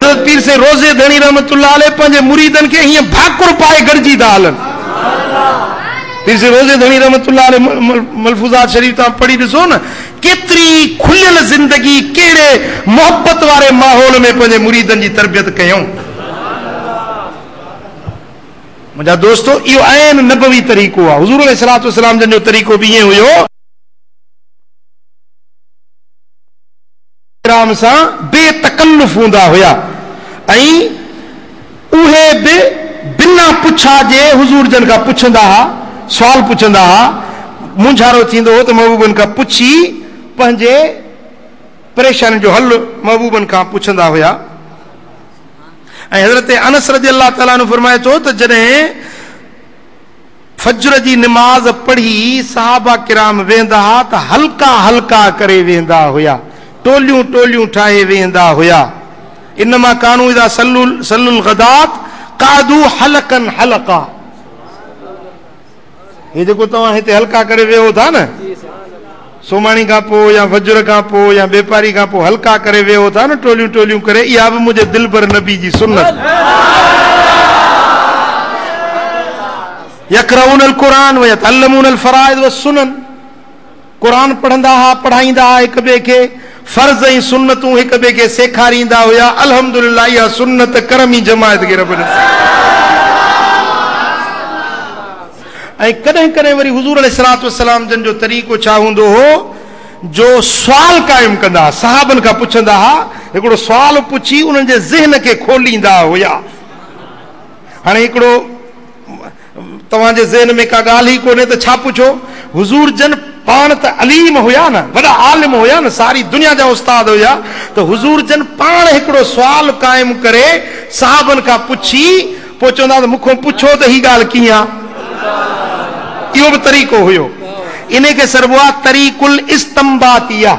حضرت پير سين روضي ڌڻي رحمة الله عليه پنهنجي مريدن کي هيئن ڀاڪر پائي گڏجي ٿا هلن. پير سين روضي ڌڻي رحمة الله عليه ملفوظات شريف توهان پڙهي ڏسو نه ڪيتري کليل زندگي ڪهڙي محبت واري ماحول ۾ پنهنجي مريدن جي تربيت ڪيائون. منهنجا دوستو اهو عين نبوي طريقو آهي. حضور عليه الصلوة والسلام جن جو طريقو به ائين هيو. احترام سان بي تڪلف هوندا هيا ۽ اهي به بنا پڇا جي حضور جن کان پڇندا ها، سوال پڇندا ها، مونجهارو ٿيندو هو ته محبوبن کان پڇي پنهنجي پريشانين جو حل محبوبن کان پڇندا هيا ۽ حضرت انس رضي الله تعالٰي عنه فرمائي ٿو ته جڏهن فجر جي نماز پڙهي صحابه ڪرام ويهندا ها ته حلقا حلقا ڪري ويهندا هيا، ٽوليون ٽوليون ٺاهي ويهندا هيا. انما ڪانو اذا صلو صلو الغدات قعدو حلقا حلقا. هي جيڪو توهان هتي حلقا ڪري ويهو ٿا نه. سومهاڻي کان پوء يا فجر کان پوء يا ٻيپاري کان پوء حلقا ڪري ويهو ٿا نه ٽوليون ٽوليون ڪري اها به منهنجي دلبر نبي جي سنت يقرؤون القرآن ويتعلمون الفرائض والسنن قرآن پڙهندا ها پڙهائيندا ها هڪ ٻئي کي فرض ۽ سنتون هڪ ٻئي کي سيکاريندا هيا الحمدلله اها سنت ڪرمي جماعت کي رب نصيب ۽ ڪڏهن ڪڏهن وري حضور عليه الصلاة والسلام جن جو طريقو ڇا هوندو هو جو سوال قائم ڪندا ها صحابن کان پڇندا ها هڪڙو سوال پڇي انهن جي ذهن کي کوليندا هيا هاڻي هڪڙو توهان جي ذهن ۾ ڪا ڳالهه ئي ڪونهي ته ڇا پڇو حضور جن پاڻ ته عليم هيا نه وڏا عالم هيا نه ساري دنيا جا استاد هيا ته حضور جن پاڻ هڪڙو سوال قائم ڪري صحابن کان پڇي پوء چوندا ته مون کان پڇو ته هي ڳالهه ڪيئن آ؟ اهو به طريقو هيو. انهي کي سڏبو آ طريق الاستنباطيه.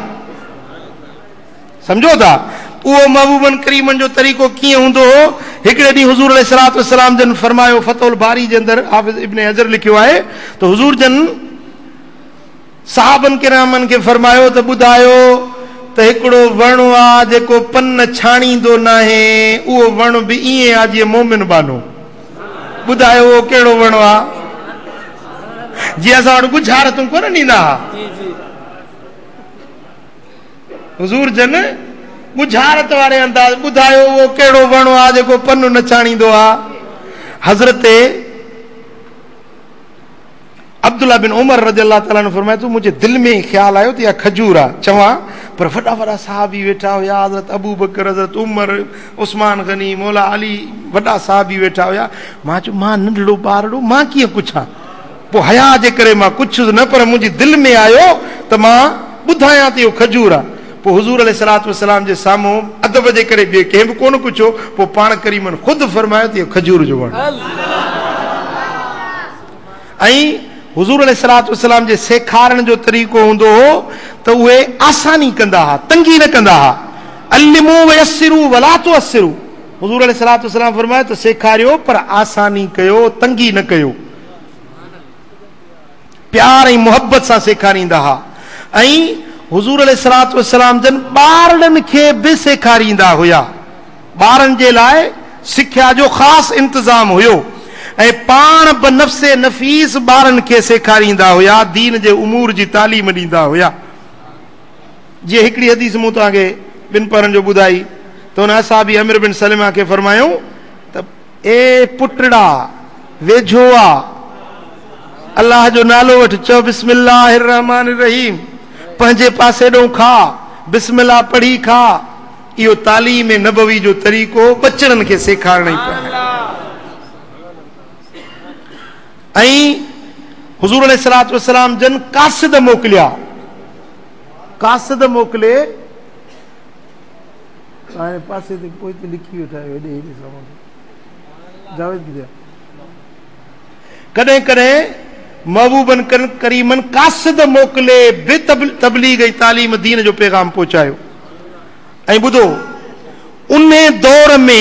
سمجهو ٿا؟ اهو محبوبن ڪريمن جو طريقو ڪيئن هوندو هو؟ هڪڙي ڏينهن حضور عليه الصلوة والسلام جن فرمايو، فتح الباري جي اندر حافظ ابن حجر لکيو آهي ته حضور جن، صحابن ڪرامن کي فرمايو ته ٻڌايو ته هڪڙو وڻ آ جيڪو پن ڇاڻيندو ناهي اهو وڻ به ائين آ جيئن مؤمن ٻانهو. ٻڌايو اهو ڪهڙو وڻ آ جي اسان وٽ ڳجهارتون ڪونه ڏيندا ها. حضور جن ڳجهارت واري انداز ٻڌايو اهو ڪهڙو وڻ آ جيڪو پن نه ڇاڻيندو آ. حضرت عبدالله بن عمر رضي الله تعالٰي عنه فرمائي ٿو، منهنجي دل ۾ خيال آيو ته اها کجور آ چوان، پر وڏا وڏا صحابي ويٺا هيا، حضرت ابوبڪر، حضرت عمر، عثمان غني، مولا علي، وڏا صحابي ويٺا هيا، مان چيو مان ننڍڙو ٻارڙو مان ڪيئن پڇان، پوء حياء جي ڪري مان پڇيس نه پر منهنجي دل ۾ آيو ته مان ٻڌايان ته اهو کجور آ، پوء حضور عليه الصلوة والسلام جي سامهون ادب جي ڪري ٻئي ڪنهن به ڪونه پڇيو، پوء پاڻ ڪريمن خود فرمايو ته اهو کجور جو وڻ آ. ۽ حضور عليه الصلوة والسلام جي سيکارڻ جو طريقو هوندو هو ته اهي آساني ڪندا ها، تنگي نه ڪندا ها. علموا ويسروا ولا تعسروا حضور عليه الصلوة والسلام فرمايو ته سيکاريو پر آساني ڪيو، تنگي نه ڪيو. پيار ۽ محبت سان سيکاريندا ها ۽ حضور عليه الصلوة والسلام جن ٻارڙن کي به سيکاريندا هيا. ٻارن جي لاء سکيا جو خاص انتظام هيو ۽ پاڻ به نفس نفيس ٻارن کي سيکاريندا هيا، دين جي امور جي تعليم ڏيندا هيا. جيئن هڪڙي حديث مون توهان کي ٻن پهرن جو ٻڌائي ته ان اصحابي عمرو بن سلمه کي فرمايائون ته اي پٽڙا! ويجهو آ الله جو نالو وٺ، چؤ بسم الله الرحمٰن الرحيم، پنهنجي پاسي ڏئون کاء، بسم الله پڙهي کاء، اهو تعليم نبوي جو طريقو ٻچڙن کي سيکارڻ ئي پيا آهن ۽ حضور عليه الصلوة والسلام جن قاصد موڪليا قاصد موڪلي هاڻي پاسي تي پوئتي لکي ويٺا آهيو هيڏي هيڏي سامان جاويد ڪٿي آهي ڪڏهن ڪڏهن محبوبن ڪن ڪريمن قاصد موڪلي به تبليغ ۽ تعليم دين جو پيغام پهچايو ۽ ٻڌو انهي دور ۾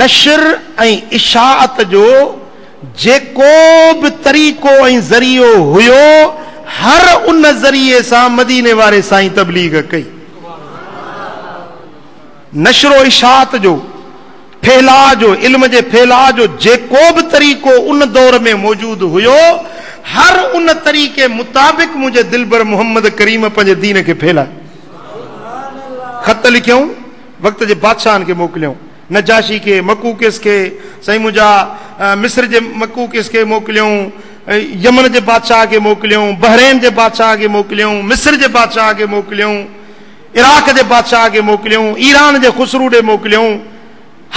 نشر ۽ اشاعت جو جيڪو به طريقو ۽ ذريعو هيو هر ان ذريعي سان مديني واري سائين تبليغ ڪئي. نشر و اشاعت جو، ڦهلاء جو، علم جي ڦهلاء جو جيڪو به طريقو ان دور ۾ موجود هيو، هر ان طريقي مطابق منهنجي دلبر محمد ڪريم پنهنجي دين کي ڦهلايو. خط لکيائون، وقت جي بادشاهن کي موڪليائون، نجاشي کي، مقوقس کي، سائين منهنجا، مصر جي مقوقس کي موڪليائون، يمن جي بادشاهه کي موڪليائون، بحرين جي بادشاهه کي موڪليائون، مصر جي بادشاهه کي موڪليائون. عراق جي بادشاهه کي موڪليائون، ايران جي خسرو ڏي موڪليائون،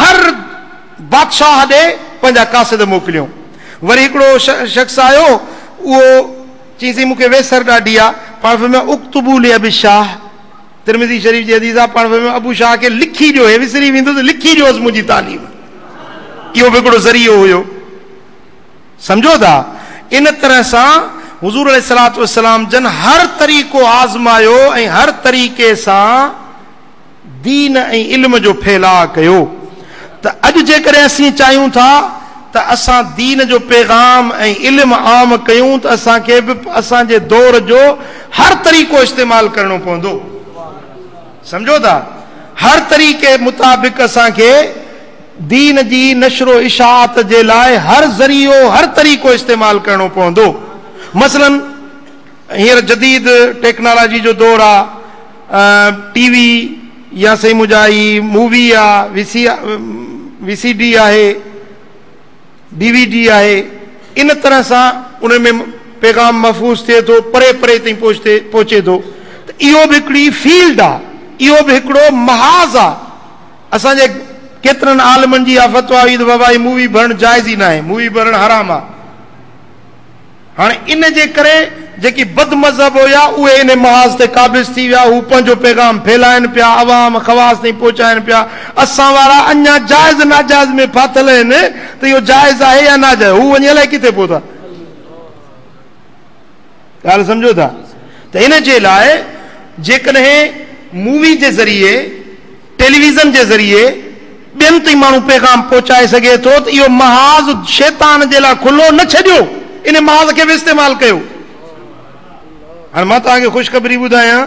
هر بادشاهه ڏي پنهنجا قاصد موڪليائون. وري هڪڙو شخص آيو، اهو چيائين سائين مون کي ويسر ڏاڍي آ، پاڻ فرمايو اڪتبوا لابي الشاهه، ترمذي شريف جي حديث آ، پاڻ فرمايو ابو شاهه کي لکي ڏيو، هي وسري ويندو ته لکي ڏيوس منهنجي تعليم. اهو به هڪڙو ذريعو هيو. سمجهو ٿا؟ ان طرح سان حضور عليه الصلاة والسلام جن هر طريقو آزمايو ۽ هر طريقي سان دين ۽ علم جو ڦيلاء ڪيو ته اڄ جيڪڏهن اسين چاهيون ٿا ته اسان دين جو پيغام ۽ علم عام ڪيون ته اسان کي به اسان جي دور جو هر طريقو استعمال ڪرڻو پوندو. سمجهو ٿا؟ هر طريقي مطابق اسان کي دين جي نشر و اشاعت جي لاء هر ذريعو هر طريقو استعمال ڪرڻو پوندو مثلاً هينئر جديد ٽيڪنالاجي جو دور آ ٽي وي يا سائين منهنجا هي مووي آ V C V C D آهي ڊي وي ڊي آهي ان طرح سان ان ۾ پيغام محفوظ ٿئي ٿو پري پري تائين پهچتي پهچي ٿو ته اهو به هڪڙي فيلڊ آ اهو به هڪڙو محاذ آ اسان جي ڪيترن عالمن جي اها فتويٰ هئي ته وبائي مووي ڀرڻ جائز ئي ناهي، مووي ڀرڻ حرام آ. هاڻ ان جي ڪري جيڪي بد مذهب هيا اهي ان محاذ تي قابض ٿي ويا، هو پنهنجو پيغام ڦهلائين پيا، عوام خواص تائين پهچائين پيا. اسان وارا اڃا جائز ناجائز ۾ ڦاٿل آهن ته اهو جائز آهي يا ناجائز، هو وڃي الائي ڪٿي پهتا. ڳالهه سمجهو ٿا؟ ته ان جي لاء جيڪڏهن مووي جي ذريعي، ٽيليويزن جي ذريعي ٻين تائين ماڻهو پيغام پهچائي سگهي ٿو ته اهو محاذ شيطان جي لاء کلو نه ڇڏيو ان محاذ کي به استعمال ڪيو. هاڻ مان توهان کي خوشخبري ٻڌايان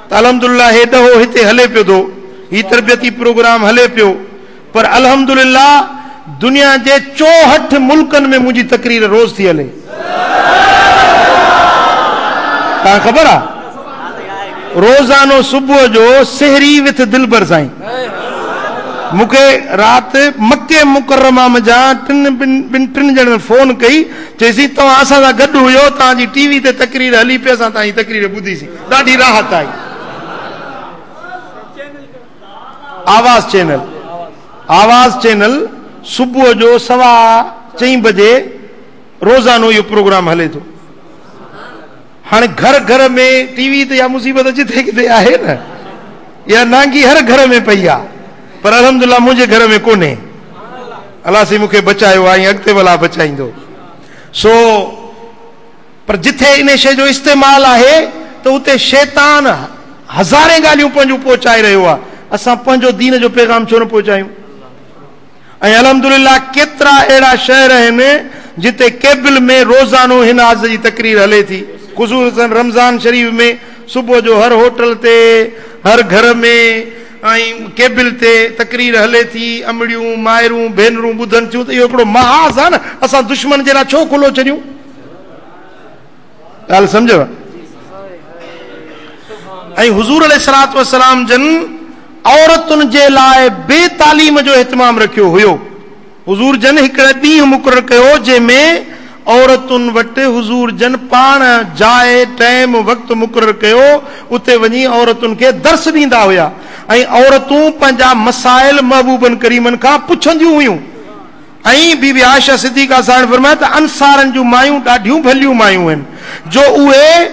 ته الحمدلله هي ڏهو هتي هلي پيو ٿو هي تربيتي پروگرام هلي پيو پر الحمدلله دنيا جي چوهٺ ملڪن ۾ منهنجي تقرير روز ٿي هلي. تان خبر آ روزانو صبح جو سحري وٿ دلبر سائين مونکي رات مکي مڪرمه م جا ٽن ٻن ٽن جڻن فون ڪئي چيسين توهان اسان سان گڏ هيو توهان جي ٽي وي تي تقرير هلي پئي اسان توهان جي تقرير ٻڌي سين ڏاڍي راحت آئي آواز چينل آواز چينل صبح جو سوا چئين بجي روزانو اهو پروگرام هلي ٿو هاڻي گهر گهر ۾ ٽي وي ته اها مصيبت جتي ڪٿي آهي نه اها نانگي هر گهر ۾ پئي آ پر الحمد لله منهنجي گهر ۾ ڪونهي الله سي مونکي بچايو آهي اڳتي ولا بچائيندو سو پر جتي انهي شيء جو استعمال آهي ته اتي شيطان هزارين ڳالهيون پنهنجون پهچائي رهيو آهي، اسان پنهنجو دين جو پيغام ڇو نه پهچايون؟ ۽ الحمدلله ڪيترا اهڙا شهر آهن جتي ڪيبل ۾ روزانو هن آز جي تقرير هلي ٿي، خصوصن رمضان شريف ۾ صبح جو هر هوٽل تي، هر گهر ۾ ۽ ڪيبل تي تقرير هلي ٿي، امڙيون، مائرون، ڀينرون ٻڌن ٿيون ته اهو هڪڙو محاذ آهي نه، اسان دشمن جي لاء ڇو کلو ڇڏيون؟ ڳالهه سمجهيو؟ ۽ حضور عليه الصلاة والسلام جن عورتن جي لاء بي تعليم جو اهتمام رکيو هيو حضور جن هڪڙي ڏينهن مقرر ڪيو جنهن ۾ عورتن وٽ حضور جن پاڻ جاء ٽائيم وقت مقرر ڪيو اتي وڃي عورتن کي درس ڏيندا هيا ۽ عورتون پنهنجا مسائل محبوبن ڪريمن کان پڇنديون هيون ائين بي بي عائشه صديقه ساڻ فرمايو ته انصارن جون مايون ڏاڍيون ڀليون مايون هين جو اهي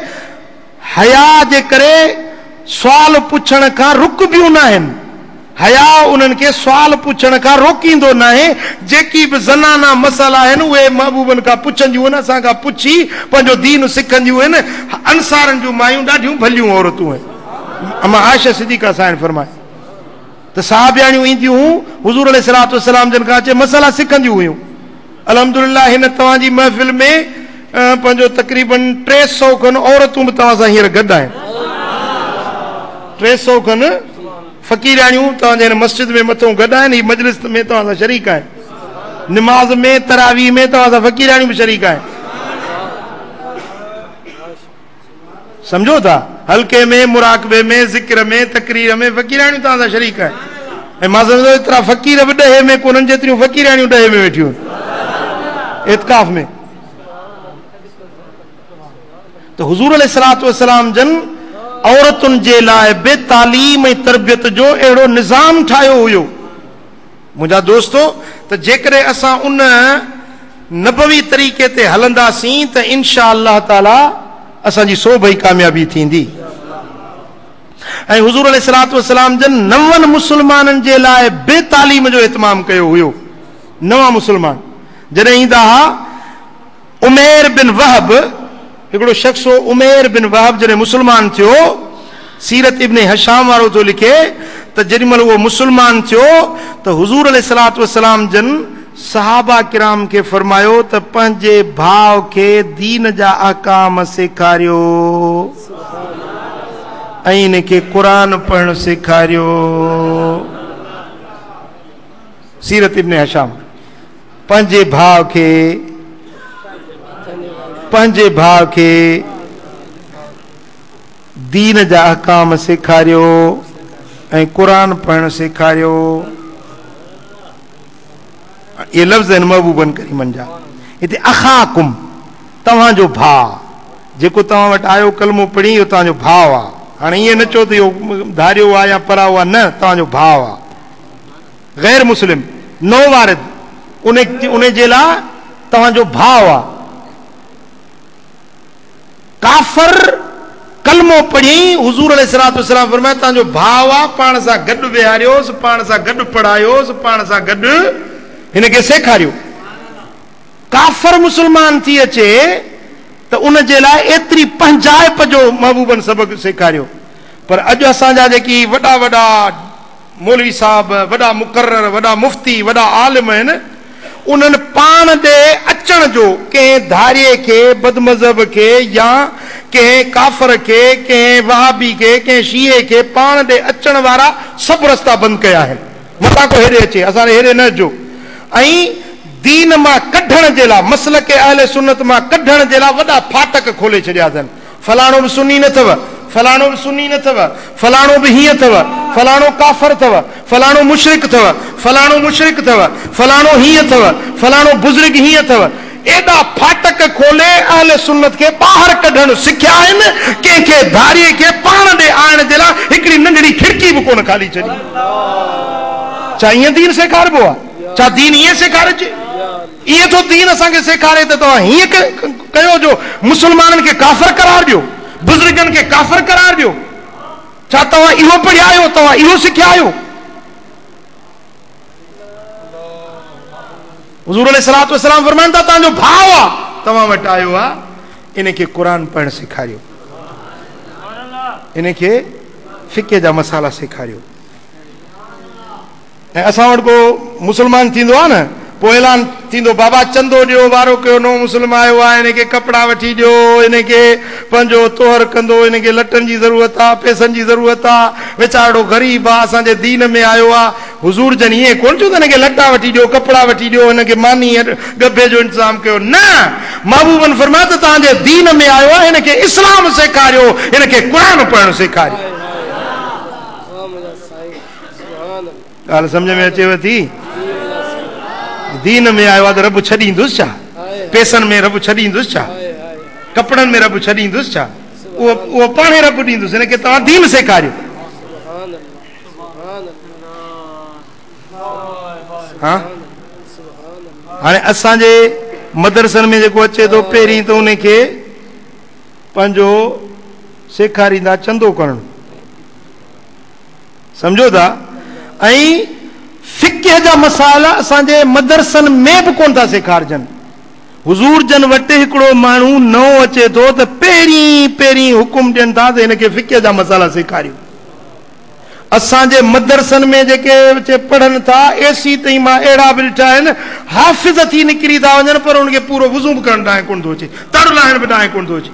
حياء جي ڪري سوال پڇڻ کان رڪبيون ناهن. حياء انهن کي سوال پڇڻ کان روڪيندو ناهي. جيڪي به زنانه مسئلا هين اهي محبوبن کان پڇنديون هين، اسان کان پڇي پنهنجو دين سکنديون هين. انصارن جون مايون ڏاڍيون ڀليون عورتون هين. اما عائشه صديقه ساڻ فرمايو. ته صحابياڻيون اينديون هيون حضور عليه الصلاة والسلام جن کان اچي مسئلا سکنديون هيون. الحمدلله هن توهان جي محفل ۾ پنهنجو تقريباً ٽي سؤ کن عورتون به توهان سان هينئر گڏ آهن. ٽي سؤ کن فقيرياڻيون توهان جي هن مسجد ۾ مٿئون گڏ آهن، هي مجلس ۾ توهان سان شريڪ آهن. نماز ۾ تراويح ۾ توهان سان فقيرياڻيون به شريڪ آهن. سمجهو ٿا حلقي ۾ مراقبي ۾ ذڪر ۾ تقرير ۾ فقيراڻيون توهان سان شريڪ آهن ۽ مان سمجهندو ايترا فقير به ڏهي ۾ ڪونهن جيتريون فقيراڻيون ڏهي ۾ ويٺيون آهن اعتکاف ۾ ته حضور عليه الصلاه والسلام جن عورتن جي لاء به تعليم ۽ تربيت جو اهڙو نظام ٺاهيو هيو منهنجا دوستو! ته جيڪڏهن اسان ان نبوي طريقي تي هلنداسين ته انشاء الله تعاليٰ اسان جي سوڀ ئي ڪاميابي ٿيندي ۽ حضور عليه الصلاة والسلام جن نون مسلمانن جي لاء به تعليم جو اهتمام ڪيو هيو نوان مسلمان جڏهن ايندا ها عمير بن وهب، هڪڙو شخص هو، عمير بن وهب جڏهن مسلمان ٿيو، سيرت ابن هشام وارو ٿو لکي ته جيڏي مهل اهو مسلمان ٿيو ته حضور عليه الصلوة والسلام جن صحابه ڪرام کي فرمايو ته پنهنجي ڀاء کي دين جا احڪام سيکاريو ۽ ان کي قرآن پڙهڻ سيکاريو سيرت ابن هشام پنهنجي ڀاء کي پنهنجي ڀاء کي دين جا احڪام سيکاريو ۽ قرآن پڙهڻ سيکاريو اهي لفظ آهن محبوبن ڪريمن جا هتي اخاڪم توهان جو ڀاء جيڪو توهان وٽ آيو ڪلمو پڙهي اهو توهان جو ڀاء آ هاڻي ائين نه چئو ته اهو ڌاريو آ يا پراو آ نه توهان جو ڀاء آ غير مسلم، نو وارد، انهي جي لاء توهان جو ڀاء آ. ڪافر، ڪلمو پڙهي، حضور عليه الصلوة والسلام فرمايو توهان جو ڀاء آ، پاڻ سان گڏ ويهاريوس، پاڻ سان گڏ پڙهايوس، پاڻ سان گڏ هن کي سيکاريو. ڪافر مسلمان ٿي اچي ته ان جي لاء ايتري پنهنجائپ جو محبوبن سبق سيکاريو. پر اڄ اسان جا جيڪي وڏا وڏا. مولوي صاحب وڏا مقرر، وڏا مفتي، وڏا عالم آهن، انهن پاڻ ڏي اچڻ جو ڪنهن ڌارئي کي، بدمذهب کي يا ڪنهن ڪافر کي، ڪنهن وهابي کي، ڪنهن شيعي کي پاڻ ڏي اچڻ وارا سڀ رستا بند ڪيا آهن. متان ڪو هيڏي اچي، اسان ڏي هيڏي نه اچجو ۽ دين مان ڪڍڻ جي لاء، مسلڪ اهل سنت مان ڪڍڻ جي لاء وڏا ڦاٽڪ کولي ڇڏيا اٿن. فلاڻو به سني نه اٿو، فلاڻو به سني نه اٿو، فلاڻو به هيئن اٿو، فلاڻو ڪافر اٿو، فلاڻو مشرڪ اٿو، فلاڻو مشرڪ اٿو، فلاڻو هيئن اٿو، فلاڻو بزرگ هيئن اٿو. ايڏا ڦاٽڪ کولي اهل سنت کي ٻاهر ڪڍڻ سکيا آهن، ڪنهن کي ڌارئي کي پاڻ ڏي آڻڻ جي لاء هڪڙي ننڍڙي کڙڪي به ڪونه کالي ڇڏي. ڇا ائين دين سيکاربو آهي؟ ڇا دين ائين سيکارجي؟ ائين ٿو دين اسان کي سيکاري ته توهان هيئن ڪيو جو مسلمانن کي ڪافر قرار ڏيو، بزرگن کي ڪافر قرار ڏيو. ڇا توهان اهو پڙهيا آهيو، توهان اهو سکيا آهيو؟ حضور عليه الصلاة والسلام فرمائن ٿا توهان جو ڀاء آ، توهان وٽ آيو آ، ان کي قرآن پڙهڻ سيکاريو، ان کي فقه جا مسئلا سيکاريو. ۽ اسان وٽ ڪو مسلمان ٿيندو آ نه پو اعلان ٿيندو بابا چندو ڏيو وارو ڪيو نئون مسلم آيو آ انهن کي ڪپڙا وٺي ڏيو انهن کي پنهنجو طهر ڪندو انهن کي لٽن جي ضرورت آ پئسن جي ضرورت آ ويچارڙو غريب آ اسان جي دين ۾ آيو آ حضور جن ائين ڪون چيو ته هن کي لٽا وٺي ڏيو ڪپڙا وٺي ڏيو هن کي ماني ۽ ڳڀي جو انتظام ڪيو نه محبوبن فرمايو ته توهان جي دين ۾ آيو آ هن کي اسلام سيکاريو هن کي قرآن پڙهڻ سيکاريو ڳالهه سمجهه ۾ اچيو ٿي؟ دين ۾ آيو آ ته رب ڇڏيندس ڇا؟ پيسن ۾ رب ڇڏيندس ڇا؟ ڪپڙن ۾ رب ڇڏيندس ڇا؟ اهو پاڻهي رب ڏيندس هن کي توهان دين سيکاريو. ها هاڻي اسان جي مدرسن ۾ جيڪو اچي ٿو پهرين ته ان کي پنهنجو سيکاريندا چندو ڪرڻ سمجهو ٿا ۽ فقه جا مسائل اسان جي مدرسن ۾ به ڪونه ٿا سيکارجن. حضور جن وٽ هڪڙو ماڻهو نئون اچي ٿو ته پهرين پهرين حڪم ڏين ٿا ته هن کي فقه جا مسئلا سيکاريو. اسان جي مدرسن ۾ جيڪي بچي پڙهن ٿا اي سي تائين مان اهڙا به ڏٺا آهن حافظ ٿي نڪري ٿا وڃن پر انهن کي پورو وضو به ڪرڻ ڏانهن ڪونه ٿو اچي تڙ لاهڻ به ڏانهن ڪونه ٿو اچي.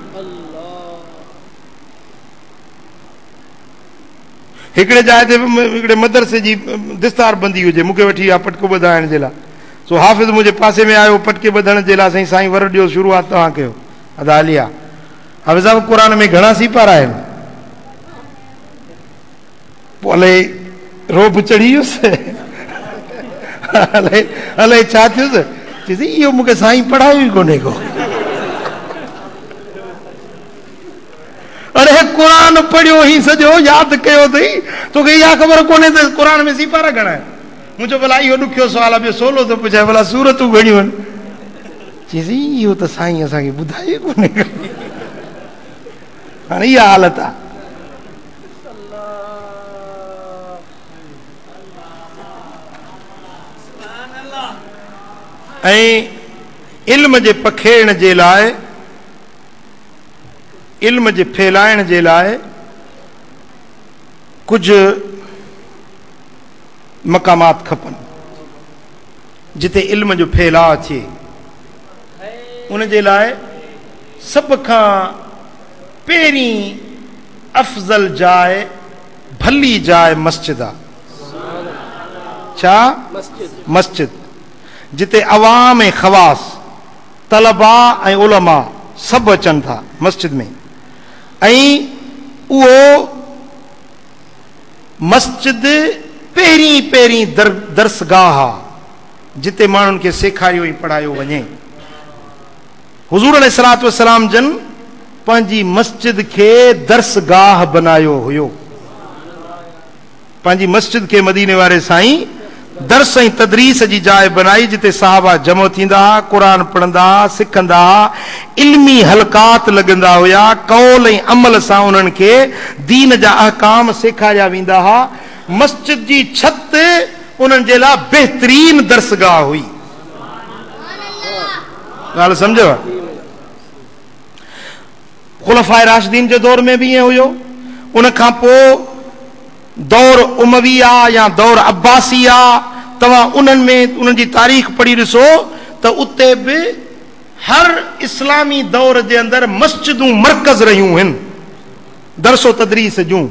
هڪڙي جاء تي هڪڙي مدرسي جي دستار بندي هجي، مون کي وٺي اها پٽڪو ٻڌائڻ جي لاء. سو حافظ منهنجي پاسي ۾ آيو، پٽڪي ٻڌڻ جي لاء سائين سائين ور ڏيو شروعات توهان ڪيو. ادا هلي آ. حافظ صاحب قرآن ۾ گهڻا سيپارا آهن. پوء الائي رعب چڙهي ويس. الائي الائي ڇا ٿيس. چيس اهو مون کي سائين پڙهايو ئي ڪونهي ڪو. اڙي قرآن پڙهيو هئين سڄو ياد ڪيو اٿئي توکي اها خبر ڪونهي ته قرآن ۾ سيپارا گهڻا آهن مون چيو ڀلا اهو ڏکيو سوال آهي ٻيو سولو ٿو پڇايان ڀلا سورتون گهڻيون آهن چيس اهو ته سائين اسان کي ٻڌايو ئي ڪونهي هاڻي اها حالت آهي علم جي پکيڙڻ جي لاء علم جي ڦهلائڻ جي لاء ڪجهه مقامات کپن جتي علم جو ڦهلاء ٿئي ان جي لاء سڀ کان پهرين افضل جاء ڀلي جاء مسجد آ ڇا مسجد جتي عوام ۽ خواص طلباء ۽ علماء سڀ اچن ٿا مسجد ۾ ۽ اهو مسجد پهرين پهرين درسگاهه آ جتي ماڻهن کي سيکاريو ۽ پڙهايو وڃي. حضور عليه الصلوة والسلام جن پنهنجي مسجد کي درسگاهه بنايو هيو. پنهنجي مسجد کي مديني واري سائين درس ۽ تدريس جي جاء بنائي جتي صحابه جمع ٿيندا ها قرآن پڙهندا ها سکندا ها علمي حلقات لڳندا هيا قول ۽ عمل سان انهن کي دين جا احڪام سيکاريا ويندا ها مسجد جي ڇت انهن جي لا بهترين درسگاهه هئي ڳالهه سمجهيو خلفاء راشدين جي دور ۾ به ائين هيو. ان کان پوء دور امويه يا دور عباسيه توهان انهن ۾ انهن جي تاريخ پڙهي ڏسو ته اتي به هر اسلامي دور جي اندر مسجدون مرڪز رهيون هن درس و تدريس جون.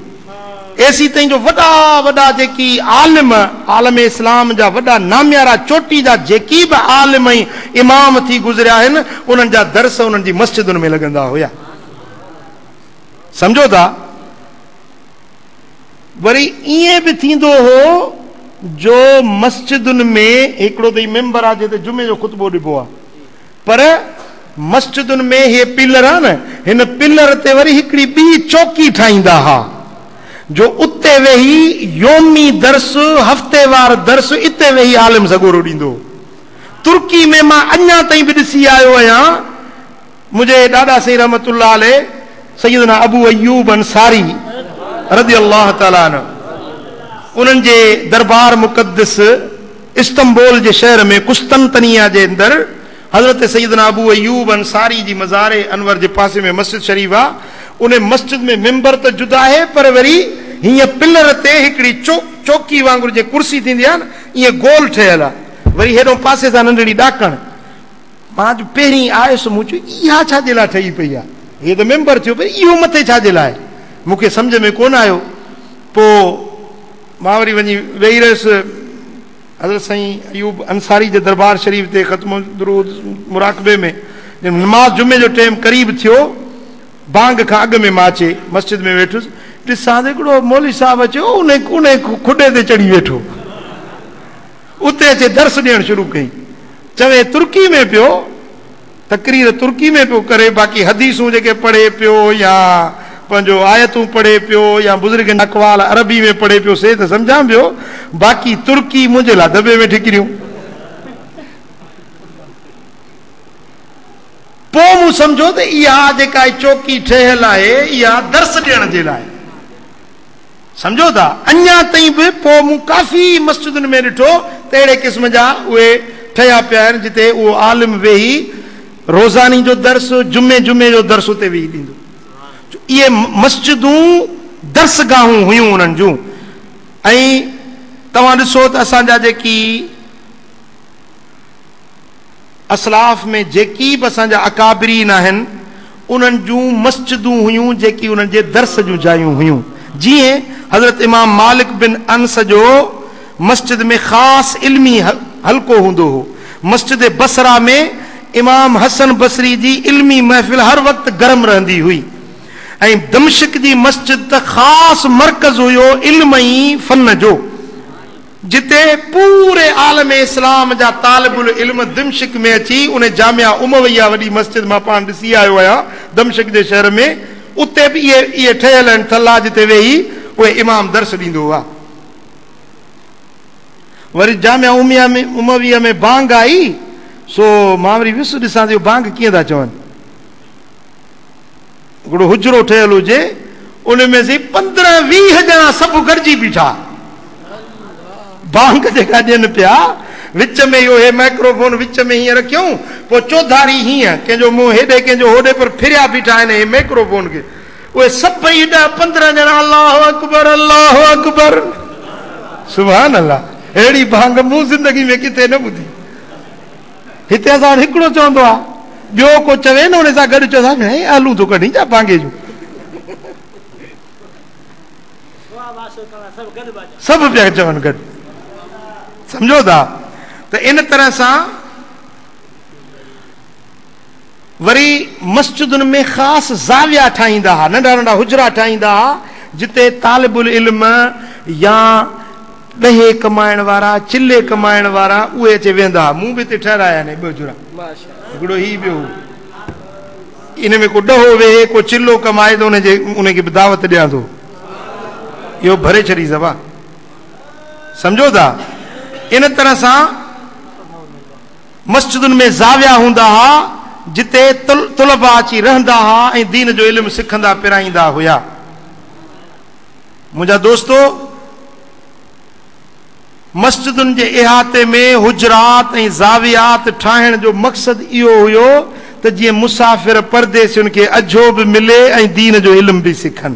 ايسي تائين جو وڏا وڏا جيڪي عالم، عالم اسلام جا وڏا ناميارا چوٽي جا جيڪي به عالم ۽ امام ٿي گذريا آهن، انهن جا درس انهن جي مسجدن ۾ لڳندا هيا. سمجهو ٿا؟ وري ائين به ٿيندو هو جو مسجدن ۾ هڪڙو ته هي ميمبر آ جنهن تي جمعي جو خطبو ڏبو آ، پر مسجدن ۾ هي پلر آهن، هن پلر تي وري هڪڙي ٻي چوڪي ٺاهيندا ها، جو اتي ويهي يومي درس، هفتيوار درس اتي ويهي عالم سڳورو ڏيندو هو. ترڪي ۾ مان اڃا تائين به ڏسي آيو آهيان، منهنجي ڏاڏا سائين رحمة الله عليه سيدنا ابو ايوب انصاري رضي الله تعالٰي عنه انهن جي دربار مقدس، استنبول جي شهر ۾ قسطنطنيه جي اندر حضرت سيدنا ابو ايوب انصاري جي مزار انور جي پاسي ۾ مسجد شريف آ، ان مسجد ۾ منبر ته جدا آهي پر وري هينئن پلر تي هڪڙي چوڪي وانگر جيئن ڪرسي ٿيندي آ نه ايئن گول ٺهيل آ، وري هيڏهون پاسي سان ننڍڙي ڏاڪڻ، مان جو پهرين آيس مون چيو اها ڇا جي لاء ٺهي پئي آ، هي ته منبر ٿيو پر اهو مٿي ڇا جي لاء، مون کي سمجهه ۾ ڪونه آيو، پوء. مان وري وڃي ويهي رهيس. حضرت سائين ايوب انصاري جي دربار شريف تي ختم درود مراقبي ۾ جڏهن نماز جمعي جو ٽيم قريب ٿيو، بانگ کان اڳ ۾ مان اچي مسجد ۾ ويٺس، ڏسان ته هڪڙو مولوي صاحب اچي انهي کڏي تي چڙهي ويٺو. اتي اچي درس ڏيڻ شروع ڪئي. چوي ترڪي ۾ پيو. تقرير ترڪي ۾ پيو ڪري باقي حديثون جيڪي پڙهي پيو يا پنهنجو آيتون پڙهي پيو يا بزرگن جا اقوال عربي ۾ پڙهي پيو سي ته سمجهان پيو باقي ترڪي منهنجي لاء دٻي ۾ ٺڪريون پوء مون سمجهو ته اها جيڪا چوڪي ٺهيل آهي اها درس ڏيڻ جي لاء سمجهو ٿا اڃا تائين به پوء مون ڪافي مسجدن ۾ ڏٺو ته اهڙي قسم جا اهي ٺهيا پيا آهن جتي اهو عالم ويهي روزاني جو درس جمعي جمعي جو درس اتي ويهي ڏيندو جو اهي مسجدون درس گاهون هيون انهن جون ۽ توهان ڏسو ته اسان جا جيڪي اسلاف ۾ جيڪي به اسان جا اڪابرين آهن انهن جون مسجدون هيون جيڪي انهن جي درس جون جايون هيون جيئن حضرت امام مالڪ بن انس جو مسجد ۾ خاص علمي حلقو هوندو هو مسجد بصره ۾ امام حسن بصري جي علمي محفل هر وقت گرم رهندي هئي ۽ دمشق جي مسجد ته خاص مرڪز هيو علم ۽ فن جو. جتي پوري عالم اسلام جا طالب العلم دمشق ۾ اچي ان جامع امويه وڏي مسجد مان پاڻ ڏسي آيو آهيان دمشق جي شهر ۾ اتي به اهي اهي ٺهيل آهن ٿلها جتي ويهي اهي امام درس ڏيندو هو وري جامع امويه ۾ بانگ آئي سو مان وري ويس ڏسان ٿو بانگ ڪيئن ٿا چون هڪڙو حجرو ٺهيل هجي ان ۾ سائين پندرهن ويهه ڄڻا سڀ گڏجي بيٺا بانگ جيڪا ڏين پيا وچ ۾ اهو هي مائڪرو فون وچ ۾ هيئن رکيون پوء چوڌاري هيئن ڪنهن جو منهن هيڏي ڪنهن جو هوڏي پر ڦريا بيٺا آهن هي مائڪرو فون کي اهي سڀئي ڏهه پندرهن ڄڻا الله اڪبر الله اڪبر سبحان الله اهڙي بانگ مون زندگي ۾ ڪٿي نه ٻڌي. هتي اسان وٽ هڪڙو چوندو آ ٻيو ڪو چوي نه ان سان گڏ چوندو آ ڀيڻي آلون ٿو ڪڍين جا ڀاڱي جون سڀ پيا چون گڏ سمجهو ٿا ته ان طرح سان وري مسجدن ۾ خاص زاويا ٺاهيندا ها، ننڍا ننڍا حجرا ٺاهيندا ها، جتي طالب العلم يا ڏهي ڪمائڻ وارا، چلي ڪمائڻ وارا اهي اچي ويهندا ها. مون به اتي ٺهرايا آهن اهي ٻه حجرا. هڪڙو هي ٻيو هو. ان ۾ ڪو ڏهو ويهي، ڪو چلو ڪمائي ته ان جي ان کي به دعوت ڏيان ٿو. اهو ڀري ڇڏيس ابا. سمجهو ٿا؟ ان طرح سان. مسجدن ۾ زاويا هوندا ها، جتي طلباء اچي رهندا ها ۽ دين جو علم سکندا پرائيندا هيا. منهنجا دوستو! مسجدن جي احاطي ۾ حجرات ۽ زاويات ٺاهڻ جو مقصد اهو هيو ته جيئن مسافر پرديسين کي اجهو به ملي ۽ دين جو علم به سکن.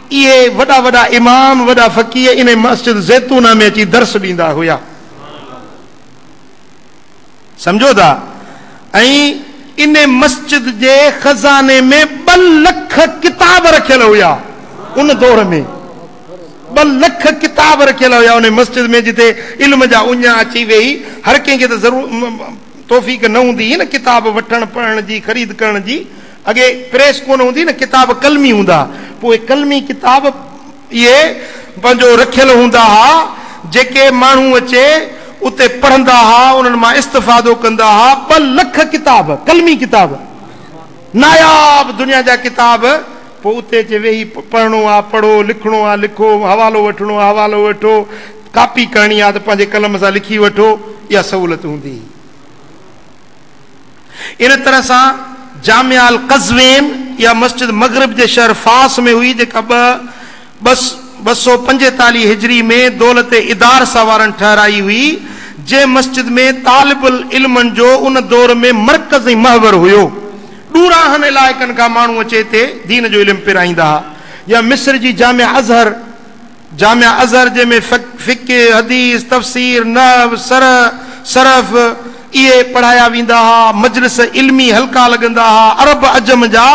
اهي وڏا وڏا امام وڏا فقيه انهي مسجد زيتونه ۾ اچي درس ڏيندا هيا سمجهو ٿا ۽ انهي مسجد جي خزاني ۾ ٻه لک ڪتاب رکيل هيا ان دور ۾ ٻه لک ڪتاب رکيل هيا انهي مسجد ۾ جتي علم جا اڃا اچي ويهي هر ڪنهن کي ته ضرور توفيق نه هوندي هئي نه ڪتاب وٺڻ پڙهڻ جي خريد ڪرڻ جي اڳي پريس ڪونه هوندي نه ڪتاب قلمي هوندا پوء قلمي ڪتاب اهي پنهنجو رکيل هوندا ها جيڪي ماڻهو اچي اتي پڙهندا ها انهن مان استفادو ڪندا ها ٻه لک ڪتاب قلمي ڪتاب ناياب دنيا جا ڪتاب پوء اتي اچي ويهي پڙهڻو آ پڙهو لکڻو آ لکو حوالو وٺڻو آ حوالو وٺو ڪاپي ڪرڻي آ ته پنهنجي قلم سان لکي وٺو اها سهولت هوندي هئي. ان طرح سان جامع القزوين يا مسجد مغرب جي شهر فاس ۾ هئي جيڪا ٻه ٻه سؤ پنجيتاليهه هجري ۾ دولت ادارسه وارن ٺهرائي هئي جنهن مسجد ۾ طالب العلمن جو ان دور ۾ مرڪز ۽ محور هيو ڏوراهن علائقن کان ماڻهو اچي هتي دين جو علم پرائيندا ها يا مصر جي جامع ازهر جامع اظهر جنهن ۾ فقه، حديث، تفسير، نحو، شرح، صرف اهي پڙهايا ويندا ها، مجلس علمي حلقا لڳندا ها، عرب عجم جا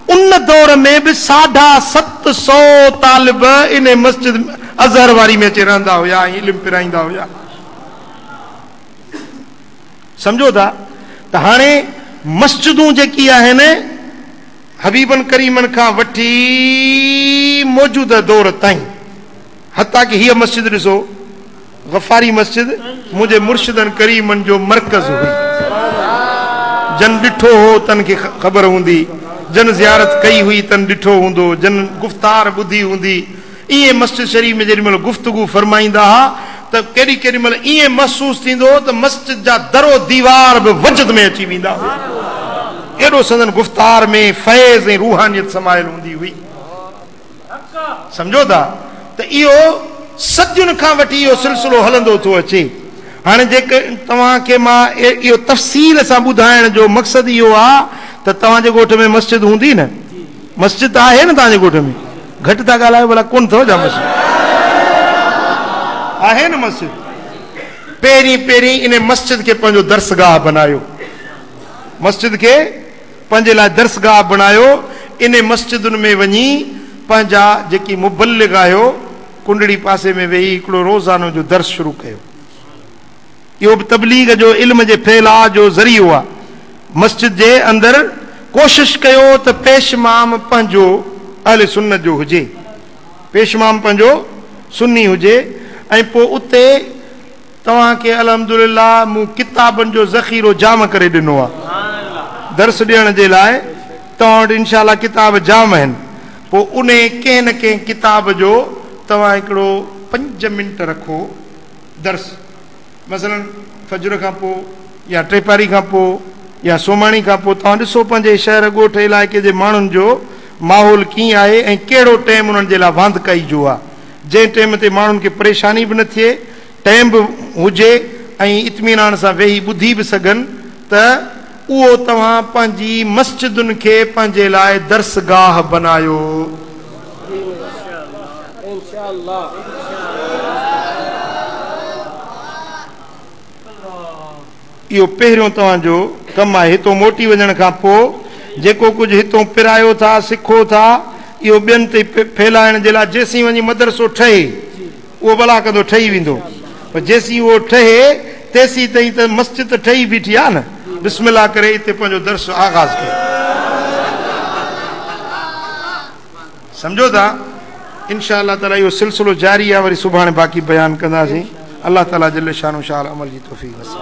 ان دور ۾ به ساڍا ست سؤ طالب ان مسجد اظهر واري ۾ اچي رهندا هيا ۽ علم پرائيندا هيا. سمجهو ٿا ته هاڻي مسجدون جيڪي آهن. حبيبن ڪريمن کان وٺي موجوده دور تائين حتيٰ ڪه هيء مسجد ڏسو غفاري مسجد منهنجي مرشدن ڪريمن جو مرڪز هئي جن ڏٺو هو تن کي خبر هوندي جن زيارت ڪئي هئي تن ڏٺو هوندو جن گفتار ٻڌي هوندي ائين مسجد شريف ۾ جيڏي مهل گفتگو فرمائيندا ها ته ڪيڏي ڪيڏي مهل ائين محسوس ٿيندو هو ته مسجد جا در و ديوار به وجد ۾ اچي ويندا هيا. ايڏو سندن گفتار ۾ فيض ۽ روحانيت سمايل هوندي هئي. سمجهو ٿا ته اهو صدين کان وٺي اهو سلسلو هلندو ٿو اچي. هاڻي جيڪي توهان کي مان اهو تفصيل سان ٻڌائڻ جو مقصد اهو آ ته توهان جي ڳوٺ ۾ مسجد هوندي نه؟ مسجد ته آهي نه توهان جي ڳوٺ ۾ گهٽ ٿا ڳالهايو ڀلا ڪونه اٿو ڇا مسجد آهي نه مسجد پهرين پهرين ان مسجد کي پنهنجو درسگاهه بنايو مسجد کي پنهنجي لاء درسگاهه بنايو ان مسجدن ۾ وڃي پنهنجا جيڪي مبلغ آهيو ڪنڊڙي پاسي ۾ ويهي هڪڙو روزانو جو درس شروع ڪيو اهو به تبليغ جو علم جي ڦهلاء جو ذريعو آهي. مسجد جي اندر ڪوشش ڪيو ته پيشمام پنهنجو اهل سنت جو هجي، پيشمام پنهنجو سني هجي ۽ پوء اتي توهان کي الحمدلله مون ڪتابن جو ذخيرو جام ڪري ڏنو آهي. درس ڏيڻ جي لاء توهان وٽ انشاء الله ڪتاب جام آهن، پوء انهي ڪنهن نه ڪنهن ڪتاب جو توهان هڪڙو پنج منٽ رکو. درس مثلا فجر کان پوء يا ٽيپهري کان پوء يا سومهاڻي کان پوء توهان ڏسو پنهنجي شهر ڳوٺ علائقي جي ماڻهن جو ماحول ڪيئن آهي ۽ ڪهڙو ٽيم انهن جي لاء واندڪائي جو آهي جنهن ٽيم تي ماڻهن کي پريشاني به نه ٿئي ٽيم به هجي ۽ اطمينان سان ويهي ٻڌي به سگهن ته اهو توهان پنهنجي مسجدن کي پنهنجي لاء درس گاهه بنايو. اهو پهريون توهان جو ڪم آهي هتون موٽي وڃڻ کان پوء جيڪو ڪجهه هتون پرايو ٿا، سکو ٿا، اهو ٻين تي ڦهلائڻ جي لاء جيسين وڃي مدرسو ٺهي. اهو ڀلا ڪندو ٺهي ويندو پر جيسين اهو ٺهي تيسين تائين ته مسجد ته ٺهي بيٺي آهي نه. بسم الله ڪري اتي پنهنجو درس آغاز ڪيو. سمجهو ٿا؟ ان شاء الله تعاليٰ اهو سلسلو جاري آهي وري سڀاڻي باقي بيان ڪنداسين. الله تعاليٰ جل شانه شاعل عمل جي توفيق نصيب.